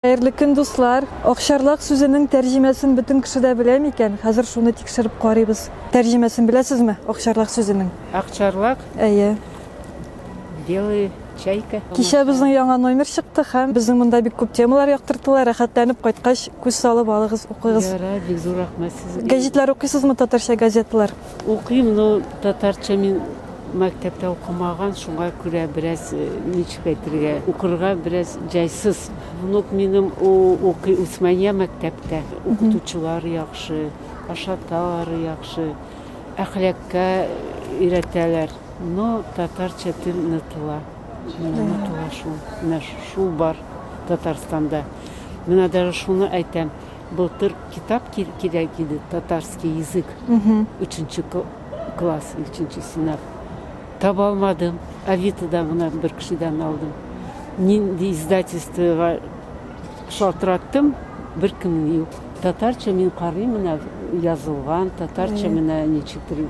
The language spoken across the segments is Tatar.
Хәерле көн дуслар! Акчарлак сүзенең тәрҗемәсен бөтен кеше дә белә микән? Хәзер шуны тикшереп карыйбыз. Тәрҗемәсен беләсезме акчарлак сүзенең? Акчарлак? Әйе. Белый чайка. Кичә безнең яңа номер чыкты һәм безнең монда бик күп темалар яктыртыла, рәхәтләнеп кайткач күз салып алыгыз, укыгыз. Ярар, бик зур рәхмәт сезгә. Гәҗитләр укыйсызмы, татарча газеталар? Укыйм, но татарча мин мәктәптә укымаган, шуңа күрә бераз ничек әйтергә, укырга бераз җайсыз. Внук минем укый Усмания мәктәптә. Укытучылар яхшы, ашаталар яхшы, әхлакка өйрәтәләр. Но татарча тел онытыла. Менә онытыла шул. Менә шул бар Татарстанда. Менә даже шуны әйтәм. Былтыр китап кирәк иде, татарский язык, өченче класс, өченче сыйныф. Таба алмадым, Авитадан гына бер кешедән алдым. Нинди издательствога шалтыраттым, беркем юк. Татарча мин карыйм, менә язылган, татарча менә ничектер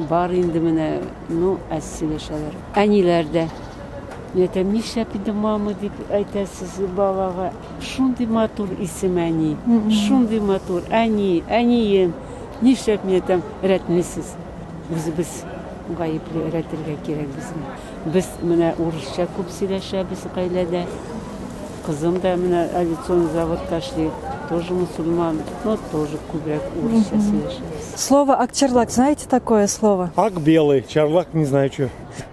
бар инде менә, ну, әз сөйләшәләр. Әниләр дә, мин әйтәм, нишләп инде мама дип әйтәсез балага? Шундый матур исем әни, шундый матур әни, әнием, нишләп мине там рәтмисез? Үзебез гаепле, рәтергә кирәк безне. Без менә урысча күп сөйләшәбез гаиләдә. Кызым да менә авиационный заводта эшли, тоже мусульман, но тоже күбрәк урысча сөйләшәбез. Слово акчарлак знаете такое слово? Ак белый, чарлак не знаю чё.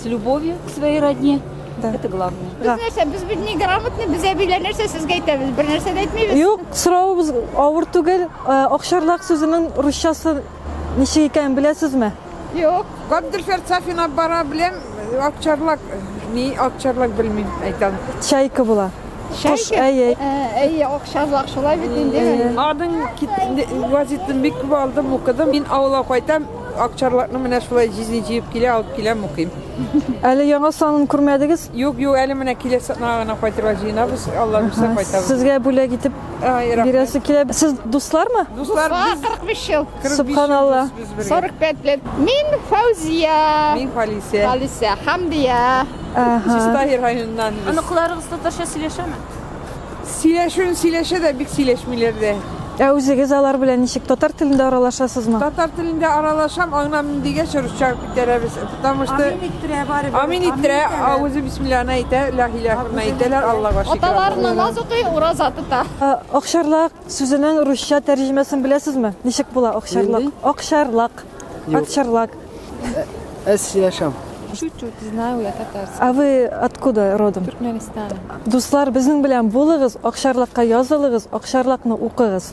С любовью к своей родне. Да. Это главное. Да. Без нәрсә, без бит не грамотны, без әбиләр нәрсә сезгә әйтәбез, бер нәрсә дә әйтмибез. Юк, соравыбыз авыр түгел. Э, Акшарлак сүзенең русчасы ничек икәнен беләсезме? Юк. Габделфер Сафина бара беләм, акчарлак, ни акчарлак белмим, әйтәм. Чайка була. Кош, әйе. Әйе, акчарлак шулай бит инде. Аның кит- вазитын бик күп алдым, укыдым. Мин авылга кайтам, Акчарлакны менә шулай җизни җыеп килә, алып киләм, укыйм. Әле яңа санын күрмәдегез? Юк, юк, әле менә киләсе атнага гына кайтырга җыенабыз. Алла бирсә кайтабыз. Сезгә бүләк итеп Ай, рәхмәт. бирәсе килә. Сез дуслармы? Дуслар, Ага, без 45 ел. 45 Субханалла. ел без бергә. 45 лет. Мин Фаузия. Мин Халисә. Алисә, Хамдия. Ага. Чистаһир районыннан без. Оныкларыгыз татарча сөйләшәме? Сөйләшүен сөйләшә дә бик сөйләшмиләр дә. Ә үзегез алар белән ничек? Татар телендә аралашасызмы? Татар телендә аралашам, аңламыйм дигәч русча күтәрә без. Потому что Амин иттерә бары. Амин иттерә, авызы бисмилланы әйтә, ла илаһ илла әйтәләр, Аллага шөкер. Аталар намаз укый, ураза тота. Акчарлак сүзенең русча тәрҗемәсен беләсезме? Ничек була акчарлак? Акчарлак. Акчарлак. Аз сөйләшәм. Чуть-чуть знаю я татарский. А вы откуда родом? Туркменистан. Дуслар, безнең белән булыгыз, Акчарлакка язылыгыз, Акчарлакны укыгыз.